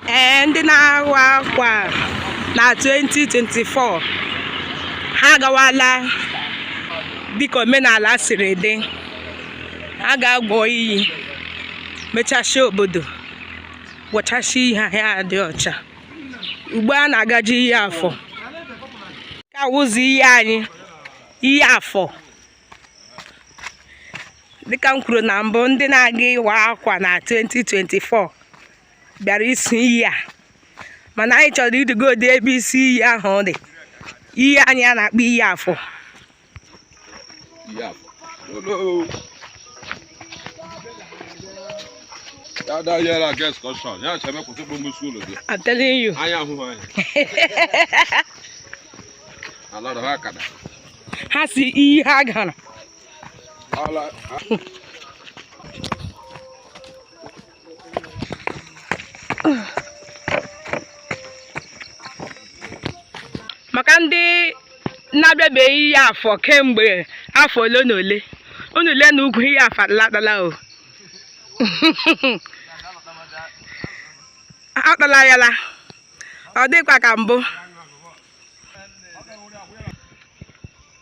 ee ndị na-awa akwa na 2024 ha agawala dịka omenala siri dị ha ga-agwọ iyi mechasịa obodo gwọchasịa iyi ha adị ọcha ugbo a na-agaji iyi afọ nke a wụzi iyi anyị iyi afọ dịka m kwuru na mbụ ndị na-aga ịwa akwa na 2024 bịara isi iyi a mana anyị chọrọ ijegodi ebe isi iyi ahụ dị iyi anyị a na-akpọ iyi afọ I'm telling you. ha si iyi ha gara maka ndị na-abịabeghị iyi afọ kemgbe afọ ole na ole unu lee na ugwu iyi afọ adaala o akpala ya ala ọ dịkwa ka mbụ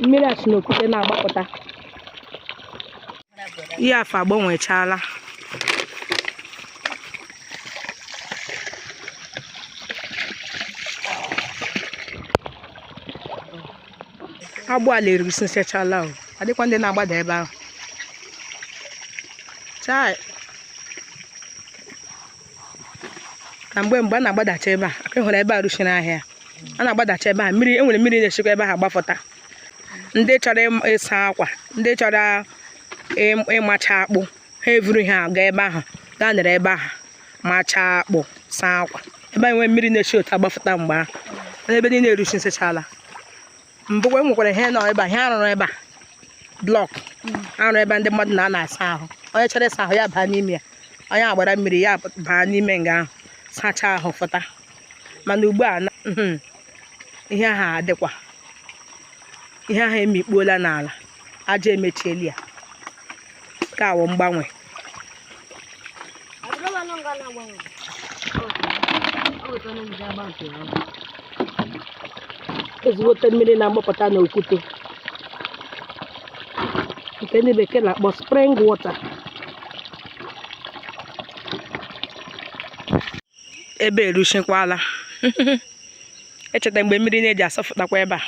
mmiri a si n'okwute na-agbapụta iyi afọ agbanwechaala agbọ ala eruchisịchaala o adịkwa ndị na-agbada ebe ahụ chai na mgbe mgbe a na-agbadacha ebe a aka hụrụ ebe a ruchiri ahịhịa a na-agbadacha ebe a mmiri e nwere mmiri na-eshikwa ebe ahụ agbafụta ndị chọrọ ịm- ịsa akwa ndị chọrọ ịm- ịmacha akpụ ha eburu ha aga ebe ahụ gaa nọrọ ebe ahụ machaa akpụ saa akwa ebe anyị nwee mmiri na-eshi otu a agbafụta mgbe ahụ ebe niile eruchisịchaala mbụkwa e nwekwara ihe nọ ebe a ihe a rụrụ ebe a block a rụrụ ebe ndị mmadụ na-anọ asa ahụ onye chọrọ ịsa ahụ ya baa n'ime ya onye gbara mmiri ya baa n'ime nga ahụ sachaa ahụ fụta mana ugbu a ihe ahụ adịkwa ihe ahụ emikpuola n'ala aja emechiela ya nke a wụ mgbanwe ezigbote mmiri na-agbapụta n'okwute nke ndị bekee na-akpọ spring water ebe a eruchikwala i cheta mgbe mmiri na-eji asọfụtakwa ebe a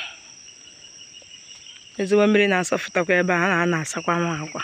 ezigbo mmiri na-asọfụtakwa ebe a na-asakwanụ akwa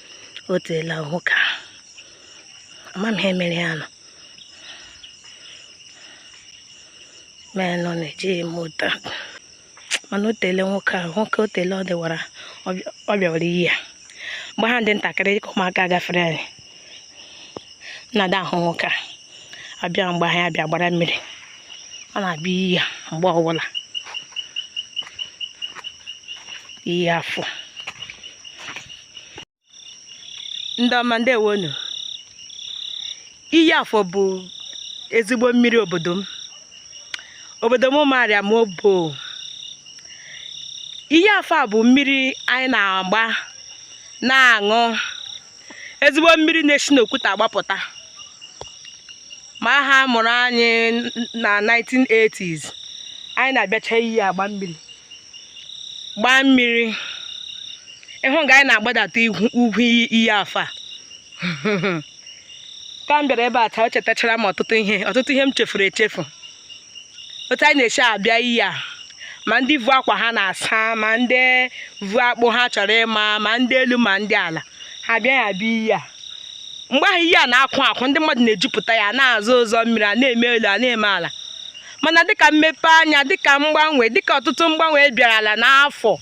o teele nwoke a ama m ihe mere ya nọ mee nọ na-ejighị m ụta mana o teele nwoke ahụ nwoke o teele ọ dịwara ọ bịawara iyi a mgbe ha dị ntakịrị dịka ụmụaka gafere anyị na-ada ahụ nwoke a abịa mgbe anyị abịa gbara mmiri ọ na-abịa iyi a mgbe ọbụla iyi afọ ndị ọma ndewonu iyi afọ bụ ezigbo mmiri obodo m obodo m ụmụarịam obowo iyi afọ a bụ mmiri anyị na-agba na-aṅụ ezigbo mmiri na-esi n'okwute agbapụta ma ha mụrụ anyị na 1980s anyị na-abịacha iyi agba mmiri gbaa mmiri ị hụ nga anyị na-agbadata ugwu iyi afọ ka m bịara ebe a taa o chetachara m ọtụtụ ihe ọtụtụ ihe m chefuru echefu otu anyị na-esi abịa iyi a ma ndị vu akwa ha na-asa ma ndị vu akpụ ha chọrọ ịma ma ndị elu ma ndị ala ha bịa ya bịa iyi a mgbe ahụ iyi a na-akwụ akwụ ndị mmadụ na-ejupụta ya na-azọ ụzọ mmiri a na-eme elu a na-eme ala mana dịka mmepe anya dịka mgbanwe dịka ọtụtụ mgbanwe e bịarala n'afọ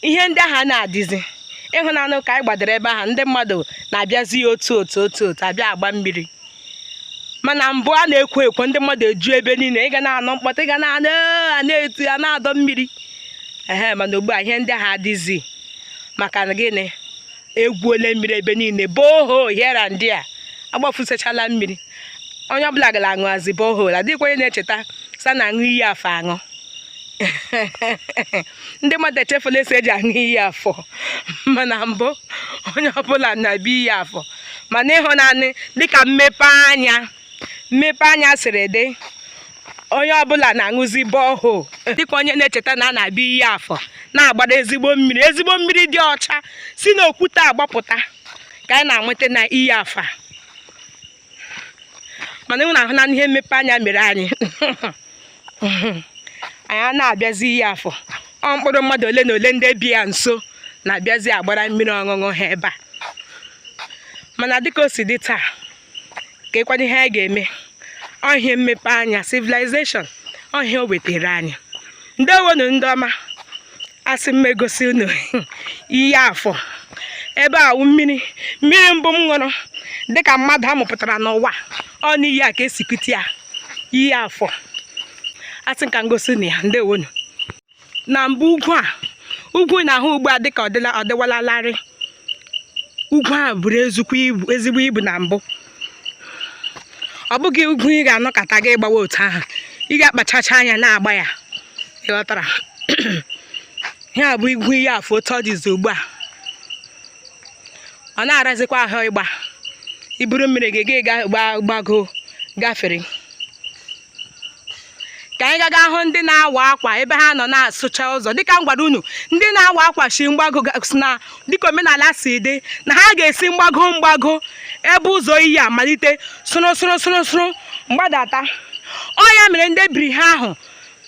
ihe ndị ahụ anaghị adịzi ị hụna nụ ka anyị gbadara ebe ahụ ndị mmadụ na-abịazi ya otu otu otu otu abịa agba mmiri mana mbụ a na-ekwo ekwo ndị mmadụ eju ebe niile ị ga na-anụ mkpọtụ ị ga na-anụ a na-eti a na-adọ mmiri ehe mana ugbu a ihe ndị ahụ adịzi maka gịnị e gwuole mmiri ebe niile borehole here and there agbafusachala mmiri onye ọbụla ga na-aṅụzi borehole adịghịkwa onye na-echeta sị a na-aṅụ iyi afọ aṅụ ndị mmadụ echefula sị e ji aṅụ iyi afọ mana mbụ onye ọbụla na-abịa iyi afọ mana ị hụna nụ dịka mmepe anya mmepe anya siri dị onye ọbụla na-aṅụzi borehole adịghịkwa onye na-echeta na a na-abịa iyi afọ na-agbara ezigbo mmiri ezigbo mmiri dị ọcha si n'okwute agbapụta ka anyị na-anweta na iyi afọ mana unu ahụna ihe mmepe anya mere anyị anyị anaghị abịazi iyi afọ ọ mkpụrụ mmadụ ole na ole ndị bi ya nso na-abịazi agbara mmiri ọṅụṅụ ha ebe a mana dịka o si dị taa kee kwanụ ihe anyị ga-eme ọ ihe mmepe anya civilization ọ ihe o wetara anyị ndewonu ndị ọma asị m egosi unu Iyi Afọ ebe a wụ mmiri mmiri mbụ m ṅụrụ dịka mmadụ amụpụtara n'ụwa ọ n'iyi a ka esi kute ya Iyi Afọ asị m ka m gosi unu ya ndewonu na mbụ ugwu a ugwu ị na-ahụ ugbu a dịka ọ dịwala larịị ugwu a buru ezigbo ibu na mbụ ọ bụghị ugwu ị ga-anọkata gị gbawa otu ahụ ị ga-akpachacha anya na-agba ya ịghọtara ihe a bụ ugwu Iyi Afọ otu ọ dịzi ugbu a ọ na-arazikwa ahụ ịgba i buru mmiri gị gị gbagoo gafere ka anyị gaga hụ ndị na-awa akwa ebe ha nọ na-asụcha ụzọ dịka m gwara unu ndị na-awa akwa si mgbago na dịka omenala si dị na ha ga-esi mgbago mgbago ebe ụzọ iyi a malite sụrụ sụrụ sụrụ sụrụ mgbadata ọ ya mere ndị ebiri ha ahụ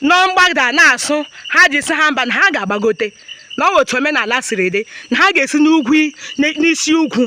nọ mgbada na-asụ ha ji si ha mba na ha ga-agbagote na ọ wụ otu omenala siri dị na ha ga-esi n'ugwu n'isi ugwu